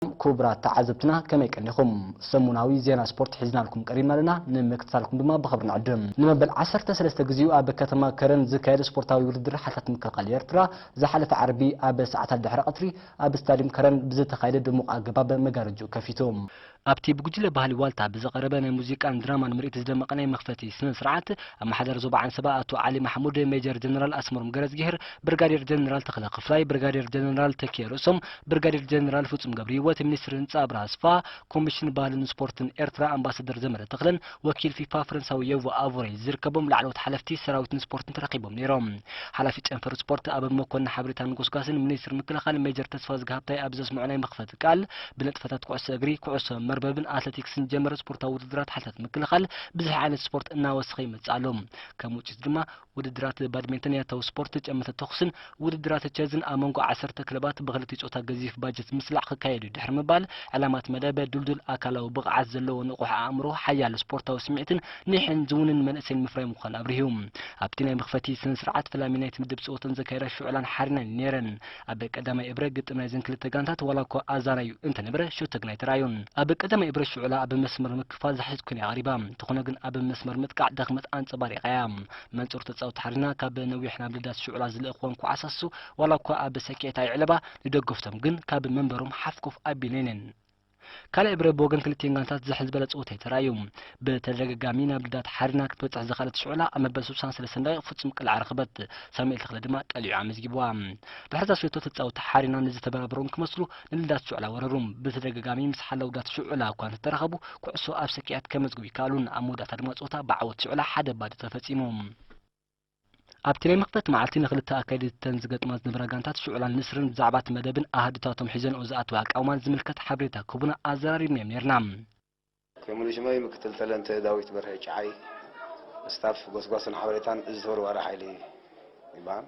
ሰላም ኩቡራት ተዓዘብትና ከመይ ቀኒኹም ሰሙናዊ ዜና ስፖርት ሒዝናልኩም ቀሪብና ኣለና ንምክትታልኩም ድማ ብኽብሪ ንዕድም ንመበል ዓሰርተ ሰለስተ ግዚኡ ኣብ ከተማ ከረን ዝካየድ ስፖርታዊ ውድድር ሓይልታት ምክልኻል ኤርትራ ዝሓለፈ ዓርቢ ኣብ ሰዓታት ድሕሪ ቐትሪ ኣብ ስታድዩም ከረን ብዝተኻየደ ድሙቕ ኣገባብ መጋረጅኡ ከፊቱ ኣብቲ ብጉጅለ ባህሊ ዋልታ ብዝቐረበ ናይ ሙዚቃን ድራማን ምርኢት ዝደመቐ ናይ መኽፈቲ ስነ ስርዓት ኣመሓዳሪ ዞባ ዓንሰባ ኣቶ ዓሊ ማሕሙድ ሜጀር ጀነራል ኣስመሮም ገረዝጊሄር ብርጋዴር ጀነራል ተኽለ ክፍላይ ብርጋዴር ጀነራል ተኪኤ ርእሶም ብርጋዴር ጀነራል ፍጹም ገብርሂወት፣ ሚኒስትር ህንጻ ኣብርሃ ኣስፋ፣ ኮሚሽን ባህልን ስፖርትን ኤርትራ ኣምባሳደር ዘመደ ተኽለን ወኪል ፊፋ ፈረንሳዊ ዮቮ ኣቮሬ ዝርከቦም ላዕለዎት ሓለፍቲ ሰራዊትን ስፖርትን ተረኺቦም ነይሮም። ሓላፊ ጨንፈር ስፖርት ኣበብ መኮንን ሓበሬታን ጎስጓስን ሚኒስትር ምክልኻል ሜጀር ተስፋዝጊ ሃብታይ ኣብ ዘስምዖ ናይ መኽፈቲ ቃል፣ ብንጥፈታት ኩዕሶ እግሪ፣ ኩዕሶ መርበብን ኣትለቲክስን ዝጀመረ ስፖርታዊ ውድድራት ሓይልታት ምክልኻል ብዝሒ ዓይነት ስፖርት እናወሰኸ ይመጽእ ኣሎ። ከም ውጽኢቱ ድማ፣ ውድድራት ባድሜንተን ያታዊ ስፖርት ጨመተ ተኹስን ውድድራት ቸዝን ኣብ መንጎ ዓሰርተ ክለባት ብክልቲኡ ፆታ ገዚፍ ባጀት ምስላዕ ክካየድ'ዩ ድሕሪ ምባል ዕላማት መደብ ዱልዱል ኣካላዊ ብቕዓት ዘለዎ ንቑሕ ኣእምሮ ሓያል ስፖርታዊ ስምዒትን ኒሕን ዝውንን መንእሰይን ምፍራይ ምዃን ኣብሪሁ። ኣብቲ ናይ መኽፈቲ ስነ-ስርዓት ፈላሚ ናይቲ ምድብ ፀወተን ዘካየዳ ሽዑላን ሓሪናን ዩ ነይረን። ኣብ ቀዳማይ እብረ ግጥም ናይዘን ክልተ ጋንታት ዋላኳ ኣዛናዩ እንተነበረ ሸቶ ግና ኣይተራእዮን። ኣብ ቀዳማይ እብረ ሽዑላ ኣብ መስመር ምክፋል ዝሓሸት ኮይና እያ ቀሪባ፣ እንተኾነ ግን ኣብ መስመር ምጥቃዕ ድኽመት ኣንጸባሪቓ እያ። መንጹር ተጻወቲ ሓርና ካብ ነዊሕ ናብ ልዳት ሽዑላ ዝልእኽወን ኳዓሳሱ ዋላኳ ኣብ ሰኪዔት ኣይዕለባ፣ ንደገፍቶም ግን ካብ መንበሮም ሓፍ ኮፍ ኣቢለን'የን። ካልኣይ ብረ ብወገን ክልቲኤን ጋንታት ዝሕል ዝበለ ጸወታ እዩ ተራእዩ። ብተደጋጋሚ ናብ ልዳት ሓሪና ክትበጽሕ ዝኸኣለት ሽዑላ ኣብ መበል ስሳን ሰለስተን ደቒቕ ፍጹም ቅልዓ ረኸበት፣ ሳሙኤል ተኽለ ድማ ቀሊዑ ኣመዝጊቡዋ። ድሕሪ'ታ ሸቶ ተጻወትቲ ሓሪና ንዝተበራበሮም ክመስሉ ንልዳት ሽዑላ ወረሩ። ብተደጋጋሚ ምስ ሓላውዳት ሽዑላ እኳ እንተተራኸቡ ኩዕሶ ኣብ ሰኪዔት ከመዝግቡ ኣይከኣሉን፣ ኣብ መወዳእታ ድማ ጸወታ ብዓወት ሽዑላ ሓደ ባዶ ተፈጺሙ። ኣብቲ ናይ መኽፈቲ መዓልቲ ንክልተ ኣካየድቲ'ተን ዝገጥማ ዝነበራ ጋንታት ሽዑላን ንስርን ብዛዕባ'ቲ መደብን ኣሃዱታቶም ሒዘንኦ ዝኣተዋ ኣቃውማን ዝምልከት ሓበሬታ ክህቡና ኣዘራሪብናዮም ኔርና። ቴሙ ልጅመይ ምክትል ተለንተ ዳዊት በርሀ ጭዓይ ስታፍ ጎስጓስን ሓበሬታን እዚ ተወርዋሪ ሓይሊ ይበሃል።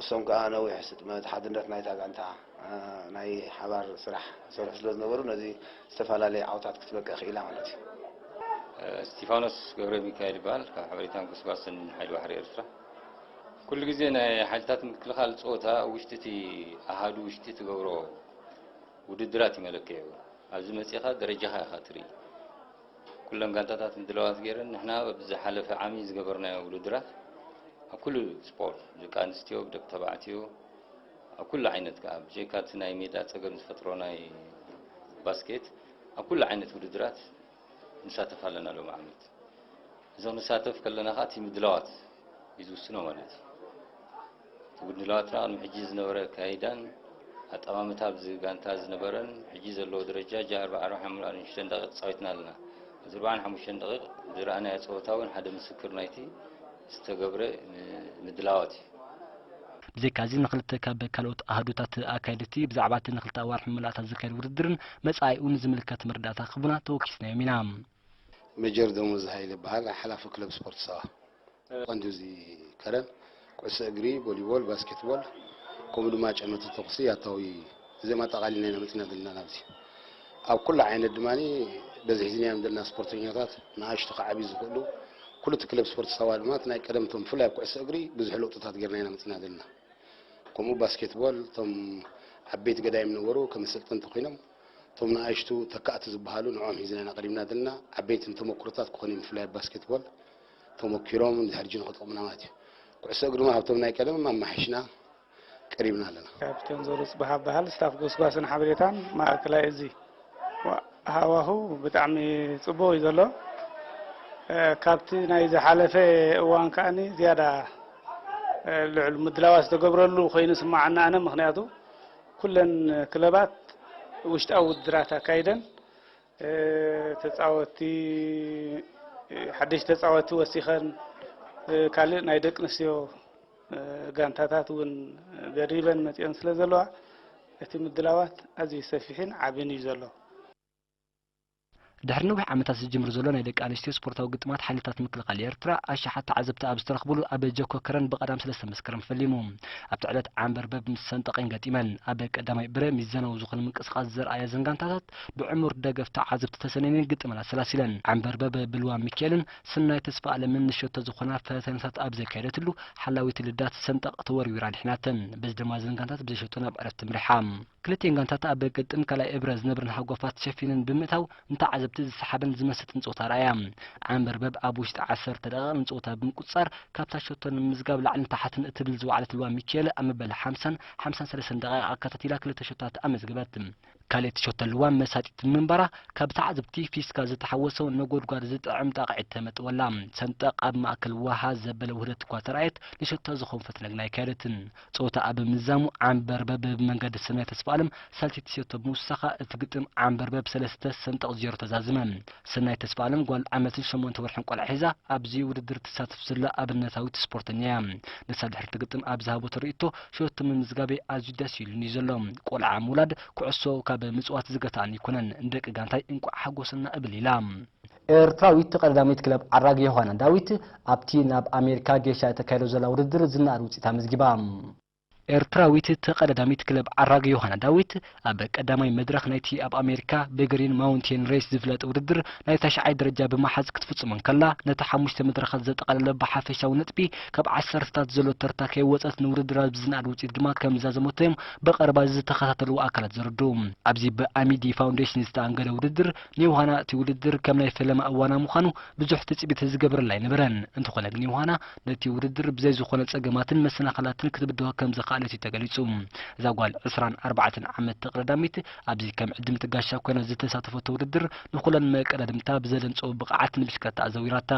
እሶም ከኣ ነዊሕ ስጥመት ሓድነት ናይታ ጋንታ ናይ ሓባር ስራሕ ዝሰርሑ ስለ ዝነበሩ ነዚ ዝተፋላለየ ዓውታት ክትበቅዕ ክኢላ ማለት እዩ። እስቲፋኖስ ገብረሚካኤል ይበሃል ካብ ሓበሬታን ጎስጓስን ሓይሊ ባሕሪ ኤርትራ። ኩሉ ግዜ ናይ ሓይልታት ምክልኻል ጸወታ ኣብ ውሽጢ እቲ ኣሃዱ ውሽጢ ትገብሮ ውድድራት እዩ መለክዒኡ። ኣብዚ መጺእኻ ደረጃኻ ኢኻ ትርኢ። ኩለን ጋንታታት ምድላዋት ገይረን ንሕና ኣብ ዝሓለፈ ዓሚ ዝገበርናዮ ውድድራት ኣብ ኩሉ ስፖርት ደቂ ኣንስትዮ ብደቂ ተባዕትዮ ኣብ ኩሉ ዓይነት ከዓ ብጀካ እቲ ናይ ሜዳ ፀገም ዝፈጥሮ ናይ ባስኬት ኣብ ኩሉ ዓይነት ውድድራት ንሳተፍ ኣለና ሎም ዓመት እዚ ክንሳተፍ ከለና ከዓ እቲ ምድላዋት እዩ ዝውስኖ ማለት እዩ እቲ ምድላዋትና ቅድሚ ሕጂ ዝነበረ ኣካይዳን ኣጠማምታ ኣብዚ ጋንታ ዝነበረን ሕጂ ዘለዎ ደረጃ ጃ ኣርብዓ ኣርብዓ ሓምሉ ኣርብዓን ሽዱሽተን ደቂቅ ተጻዊትና ኣለና። ኣብዚ ኣርብዓን ሓሙሽተን ደቂቅ ዝረኣናዮ ጸወታ ውን ሓደ ምስክር ናይቲ ዝተገብረ ምድላዋት እዩ። ብዘይካዚ ንክልተ ካብ ካልኦት ኣሃዱታት ኣካየድቲ ብዛዕባ እቲ ንክልተ ኣዋርሕ ምምላእታ ዝካየድ ውድድርን መጻኢኡን ዝምልከት መረዳእታ ክህቡና ተወኪስናዮም ኢና። ሜጀር ደሞዝ ሃይለ እበሃል። ሓላፊ ክለብ ስፖርት ሳዋ ቀንዲ እዚ ከረን ኩዕሶ እግሪ፣ ቮሊቦል፣ ባስኬትቦል ከምኡ ድማ ጨመተ ተኹሲ ያታዊ እዚኦም ኣጠቓሊልና ኢና መፂና ዘለና ናብዚ። ኣብ ኩሉ ዓይነት ድማ በዚ ሒዝናዮም ዘለና ስፖርተኛታት ንኣሽቱ ካብ ዓብዪ ዝኽእሉ ኩሉ እቲ ክለብ ስፖርት ሳዋ ድማ እቲ ናይ ቀደም እቶም ብፍላይ ኣብ ኩዕሶ እግሪ ብዙሕ ለውጥታት ጌርና ኢና መፂና ዘለና። ከምኡ ባስኬትቦል እቶም ዓበይቲ ገዳይም ነበሩ ከም ኣሰልጠንቲ ኮይኖም እቶም ንኣሽቱ ተካእቲ ዝበሃሉ ንዕኦም ሒዝና ኢና ቀሪብና ዘለና። ዓበይቲ ንተመኩሮታት ክኾኑ እዮም፣ ብፍላይ ኣብ ባስኬትቦል ተመኪሮም እንድሕር ሕጂ ንኽጠቕሙና ማለት እዩ። ኩዕሶ እግሪ ድማ ካብቶም ናይ ቀደም ኣማሓይሽና ቀሪብና ኣለና። ካፒቴን ዞሩ ጽባህ እበሃል፣ ስታፍ ጎስጓስን ሓበሬታን ማእከላይ እዚ። ሃዋሁ ብጣዕሚ ጽቡቕ እዩ ዘሎ። ካብቲ ናይ ዝሓለፈ እዋን ከኣ ዝያዳ ልዑል ምድላዋት ዝተገብረሉ ኮይኑ ይስመዓኒ ኣነ ምኽንያቱ ኩለን ክለባት ውሽጣዊ ውድድራት ኣካይደን ተፃወቲ ሓደሽቲ ተፃወቲ ወሲኸን ካልእ ናይ ደቂ ኣንስትዮ ጋንታታት እውን ደሪበን መፂኦን ስለ ዘለዋ እቲ ምድላዋት ኣዝዩ ሰፊሕን ዓብን እዩ ዘሎ። ድሕሪ ነዊሕ ዓመታት ዝጅምር ዘሎ ናይ ደቂ ኣንስትዮ ስፖርታዊ ግጥማት ሓይልታት ምክልኻል ኤርትራ ኣሽሓት ተዓዘብቲ ኣብ ዝተረኽብሉ ኣብ ጀኮ ከረን ብቀዳም ሰለስተ መስከረም ፈሊሙ ኣብቲ ዕለት ዓንበርበብ ምስ ሰንጠቐኝ ገጢመን። ኣብ ቀዳማይ ብረ ሚዛናዊ ዝኾነ ምንቅስቓስ ዘርኣያ እዘን ጋንታታት ብዕሙር ደገፍ ተዓዘብቲ ተሰነይነን ግጥመን ኣሰላሲለን። ዓንበርበብ ብልዋም ሚኪኤልን ስናይ ተስፋኣለምን ንሸቶ ዝኾና ፈተነታት ኣብ ዘካየደትሉ ሓላዊት ልዳት ሰንጠቕ ተወርዊራ ኣድሒናተን። በዚ ድማ እዘን ጋንታት ብዘይ ሸቶ ናብ ዕረፍቲ ኣምሪሓ። ክልቲኤን ጋንታት ኣብ ግጥም ካልኣይ እብረ ዝነብረን ሃጓፋት ሸፊነን ብምእታው ንተዓዘብቲ ዝሰሓበን ዝመሰጥን ጸወታ ኣርኣያ። ዓንበርበብ ኣብ ውሽጢ ዓሰርተ ደቓይቕ ንጸወታ ብምቁጽጻር ካብታ ሸቶ ንምምዝጋብ ላዕልን ታሕትን እትብል ዝወዓለት ልባ ሚኪኤለ ኣብ መበል ሓምሳን ሓምሳን ሰለስተን ደቓይቕ ኣከታቲላ ክልተ ሸቶታት ኣመዝገበት። ካልእቲ ሸቶ ልዋም መሳጢት ብምንባራ ካብ ተዓዘብቲ ፊስካ ዝተሓወሶ ነጎድጓድ ዝጥዕም ጣቕዒት ተመጥወላ። ሰንጠቕ ኣብ ማእከል ወሃ ዘበለ ውህደት'ኳ ተራእየት ንሸቶ ዝኸውን ፈትለ ግና ኣይካየደትን። ጾታኣ ብምዛሙ ዓምበርበብ ብመንገዲ ሰናይ ተስፋኣለም ሳልሰይቲ ሸቶ ብምውሳኻ እቲ ግጥም ዓምበርበብ ሰለስተ ሰንጠቕ ዜሮ ተዛዝመ። ሰናይት ተስፋኣለም ጓል ዓመትን ሸሞንተ ወርሕን ቈልዓ ሒዛ ኣብዚ ውድድር እትሳተፍ ዘላ ኣብነታዊት ስፖርተኛ እያ። ንሳ ድሕሪ እቲ ግጥም ኣብ ዝሃበቶ ርእይቶ ሸቶ ምምዝጋበይ ኣዝዩ ደስ ኢሉኒ እዩ ዘሎ። ቈልዓ ምውላድ፣ ኵዕሶ ካብ ምጽዋት ዝገትኣኒ ኣይኰነን። ንደቂ ጋንታይ እንቋዕ ሓጐሰና እብል ኢላ። ኤርትራዊት ቀዳዳሚት ክለብ ዓራግ ዮሃና ዳዊት ኣብቲ ናብ ኣሜሪካ ጌሻ እተካይዶ ዘላ ውድድር ዝነኣድ ውጽኢት ኣመዝጊባ። ኤርትራዊት ተቐዳዳሚት ክለብ ዓራግ ዮሃና ዳዊት ኣብ ቀዳማይ መድረኽ ናይቲ ኣብ ኣሜሪካ ብግሪን ማውንቴን ሬስ ዝፍለጥ ውድድር ናይ ታሽዓይ ደረጃ ብምሓዝ ክትፍጽሞ እንከላ ነቲ ሓሙሽተ መድረኻት ዘጠቓለለ ብሓፈሻዊ ነጥቢ ካብ ዓሰርተታት ዘሎ ተርታ ከይወጸት ንውድድራ ብዝነኣድ ውጽኢት ድማ ከምዛዘመቶ'ዮም ብቐረባ ዝተኸታተልዎ ኣካላት ዘረድኡ። ኣብዚ ብኣሚዲ ፋውንዴሽን ዝተኣንገደ ውድድር፣ ንዮውሃና እቲ ውድድር ከም ናይ ፈለማ እዋና ምዃኑ ብዙሕ ትጽቢት ዝገብረላ ኣይነበረን። እንተኾነ ግን ዮውሃና ነቲ ውድድር ብዘይ ዝኾነ ጸገማትን መሰናኸላትን ክትብድሆ ከም ዝኸኣለት እዩ ተገሊጹ። እዛ ጓል ዕስራን ኣርባዕተን ዓመት ተቕዳዳሚት ኣብዚ ከም ዕድምቲ ጋሻ ኮይና ዝተሳተፈቶ ውድድር ንኹለን መቀዳድምታ ብዘደንጸዎ ብቕዓት ንብሽክለታ ኣዘዊራታ።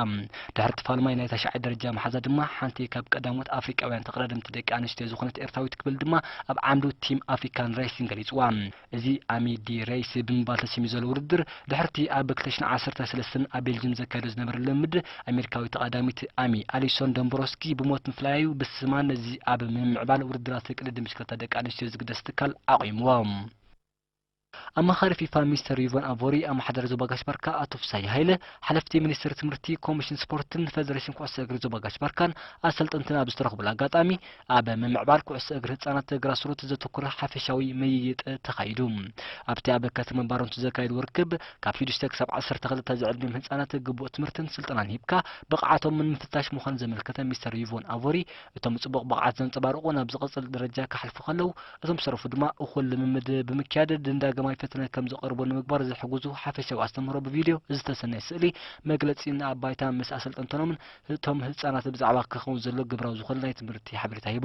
ድሕሪ ትፋልማይ ናይ ታሽዓይ ደረጃ ምሓዛ ድማ ሓንቲ ካብ ቀዳሞት ኣፍሪቃውያን ተቕዳደምቲ ደቂ ኣንስትዮ ዝኾነት ኤርትራዊት ክብል ድማ ኣብ ዓንዱ ቲም ኣፍሪካን ሬሲን ገሊጽዋ። እዚ ኣሚ ዲ ረይስ ብምባል ተሰምዩ ዘሎ ውድድር፣ ድሕሪ'ቲ ኣብ ክልተ ሽሕን ዓሰርተ ሰለስተን ኣብ ቤልጅም ዘካይዶ ዝነበረ ልምምድ፣ ኣሜሪካዊት ተቐዳሚት ኣሚ፣ ኣሊሶን ዶምብሮስኪ፣ ብሞት ምፍላያ'ዩ ብስማ ነዚ ኣብ ምምዕባል ውድድራት ቅድድም ብሽክለታ ደቂ ኣንስትዮ ዝግደስ ትካል ኣቝይምዎ። ኣማኻሪ ፊፋ ሚስተር ዩቮን ኣቮሪ፣ ኣመሓዳሪ ዞባ ጋሽ-ባርካ ኣቶ ፍስሃየ ሃይለ፣ ሓለፍቲ ሚኒስትሪ ትምህርቲ፣ ኮሚሽን ስፖርትን ፈደረሽን ኩዕሶ እግሪ ዞባ ጋሽ-ባርካን ኣሰልጠንትን ኣብ ዝተረኽቡሉ ኣጋጣሚ፣ ኣብ ምምዕባል ኩዕሶ እግሪ ህጻናት ግራስሩት ዘተኩረ ሓፈሻዊ ምይይጥ ተኻይዱ። ኣብቲ ኣብ ከተማ ባረንቱ ዘካየድዎ ርክብ፣ ካብ ሽዱሽተ ክሳብ ዓሰርተ ክልተ ዝዕድሚኦም ህጻናት ግቡእ ትምህርትን ስልጠናን ሂብካ ብቕዓቶም ንምፍታሽ ምዃኑ ዘመልከተ ሚስተር ዩቮን ኣቮሪ፣ እቶም ጽቡቕ ብቕዓት ዘንጸባርቑ ናብ ዝቕጽል ደረጃ ክሓልፉ ከለው፣ እቶም ዝተረፉ ድማ እኹል ልምምድ ብምክያድ ንዳግማይ ፈተነ ከም ዝቐርቡ ንምግባር ዝሕግዙ ሓፈሻዊ ኣስተምህሮ ብቪድዮ፣ ዝተሰነየ ስእሊ፣ መግለጺን ኣብ ባይታ ምስ ኣሰልጠንተኖምን እቶም ህጻናት ብዛዕባ ክኸውን ዘሎ ግብራዊ ዝኾነ ናይ ትምህርቲ ሓበሬታ ሂቡ።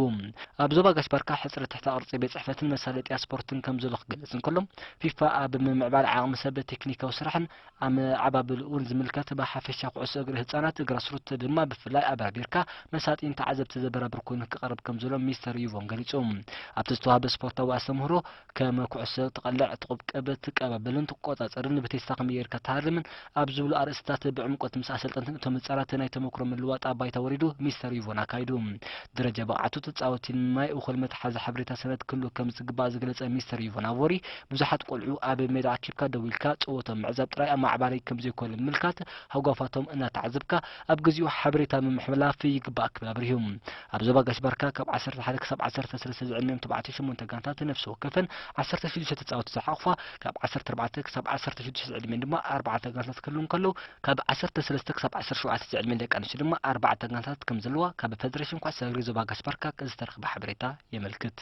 ኣብ ዞባ ጋሽ-ባርካ ሕጽረት ትሕተ ቅርጺ ቤት ጽሕፈትን መሳለጥያ ስፖርትን ከም ዘሎ ክገልጽ እንከሎ፣ ፊፋ ኣብ ምምዕባል ዓቕሚ ሰብ፣ ቴክኒካዊ ስራሕን ኣመዓባብላኡን ዝምልከት ብሓፈሻ ኩዕሶ እግሪ ህጻናት፣ ግራስሩት፣ ድማ ብፍላይ ኣበራቢርካ መሳጢን ተዓዘብቲ ዘበራብር ኮይኑ ክቐርብ ከም ዘሎ ሚስተር ዩቮን ገሊጹ። ኣብቲ ዝተዋህበ ስፖርታዊ ኣስተምህሮ፣ ከም ኩዕሶ ትቐልዕ፣ ትቑብቅብ፣ ትቀባበልን ትቆጻጸርን፣ ብቴስታ ከመይ ጌርካ ትሃርምን ኣብ ዝብሉ ኣርእስትታት ብዕምቆት ምስ ኣሰልጠንትን እቶም ህጻናት ናይ ተመክሮ ምልውዋጥ ኣብ ባይታ ወሪዱ ሚስተር ዩቮን ኣካይዱ። ደረጃ ብቕዓቱ፣ ተጻወቲን ናይ እኹል መትሓዚ ሓበሬታ ሰነድ ክህልዎ ከም ዝግባእ ዝገለጸ ሚስተር ዩቮን ኣቮሪ፣ ብዙሓት ቆልዑ ኣብ ሜዳ ኣኪብካ ደው ኢልካ ጸወትኦም ምዕዛብ ጥራይ ኣማዕባሊ ከም ዘይኮነ ብምምልካት ሃጓፋቶም እናተዓዘብካ፣ ኣብ ግዚኡ ሓበሬታ ምምሕልላፍ ይግባእ ክብል ኣብሪሁ። ኣብ ዞባ ጋሽ ባርካ ካብ ዓሰርተ ሓደ ክሳብ ዓሰርተ ሰለስተ ዝዕድሚኦም ተባዕትዮ ሸሞንተ ጋንታት ነፍሲ ወከፈን ዓሰርተ ሽዱሽተ ተጻወቲ ዝሓቑፋ፣ ካብ ዓሰርተ ኣርባዕተ ክሳብ ዓሰርተ ሽዱሽተ ዝዕድሚኤን ድማ ኣርባዕተ ጋንታት ክህልው እንከለው፣ ካብ ዓሰርተ ሰለስተ ክሳብ ዓሰርተ ሸውዓተ ዝዕድሚኤን ደቂ ኣንስትዮ ድማ ኣርባዕተ ጋንታታት ከም ዘለዋ ካብ ፈደረሽን ኩዕሶ እግሪ ዞባ ጋሽ ባርካ ዝተረኽበ ሓበሬታ የመልክት።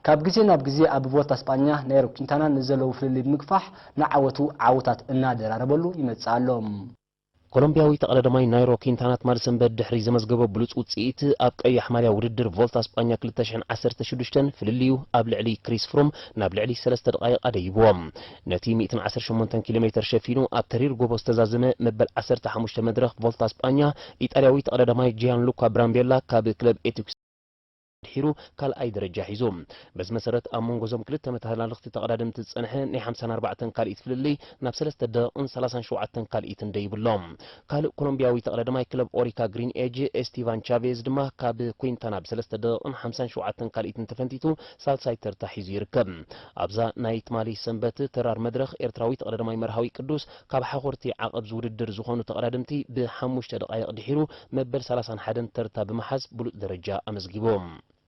ካብ ግዜ ናብ ግዜ ኣብ ቮልታ ስጳኛ ናይሮ ኲንታና ንዘለዎ ፍልልይ ብምግፋሕ ንዓወቱ ዓወታት እናደራረበሉ ይመጽእ ኣሎ። ኮሎምብያዊ ተቐዳዳማይ ናይሮ ኲንታና ትማሊ ሰንበት ድሕሪ ዘመዝገቦ ብሉጽ ውጽኢት ኣብ ቀያሕ ማልያ ውድድር ቮልታ ስጳኛ ክልተ ሽሕን ዓሰርተ ሽዱሽተን ፍልልዩ ኣብ ልዕሊ ክሪስ ፍሩም ናብ ልዕሊ ሰለስተ ደቓይቕ ኣደይብዎ ነቲ ሚእትን ዓሰርተ ሸሞንተን ኪሎሜተር ሸፊኑ ኣብ ተሪር ጎቦ ዝተዛዘመ መበል ዓሰርተ ሓሙሽተ መድረኽ ቮልታ ስጳኛ ኢጣልያዊ ተቐዳዳማይ ጂያንሉካ ብራምቤላ ካብ ክለብ ኤቲክስ ድሒሩ ካልኣይ ደረጃ ሒዙ። በዚ መሰረት ኣብ መንጎ እዞም ክልተ መተሃላለኽቲ ተቐዳደምቲ ዝጸንሐ ናይ ሓምሳን ኣርባዕተን ካልኢት ፍልልይ ናብ ሰለስተ ደቕቕን ሰላሳን ሸውዓተን ካልኢትን ደይቡ ኣሎ። ካልእ ኮሎምብያዊ ተቐዳዳማይ ክለብ ኦሪካ ግሪን ኤጅ ኤስቲቫን ቻቬዝ ድማ ካብ ኩንታና ብሰለስተ ደቕቕን ሓምሳን ሸውዓተን ካልኢትን ተፈንቲቱ ሳልሳይ ተርታ ሒዙ ይርከብ። ኣብዛ ናይ ትማሊ ሰንበት ተራር መድረኽ ኤርትራዊ ተቐዳዳማይ መርሃዊ ቅዱስ ካብ ሓኹርቲ ዓቐብ'ዚ ውድድር ዝኾኑ ተቐዳደምቲ ብሓሙሽተ ደቓይቕ ድሒሩ መበል ሰላሳን ሓደን ተርታ ብምሓዝ ብሉጽ ደረጃ ኣመዝጊቦም።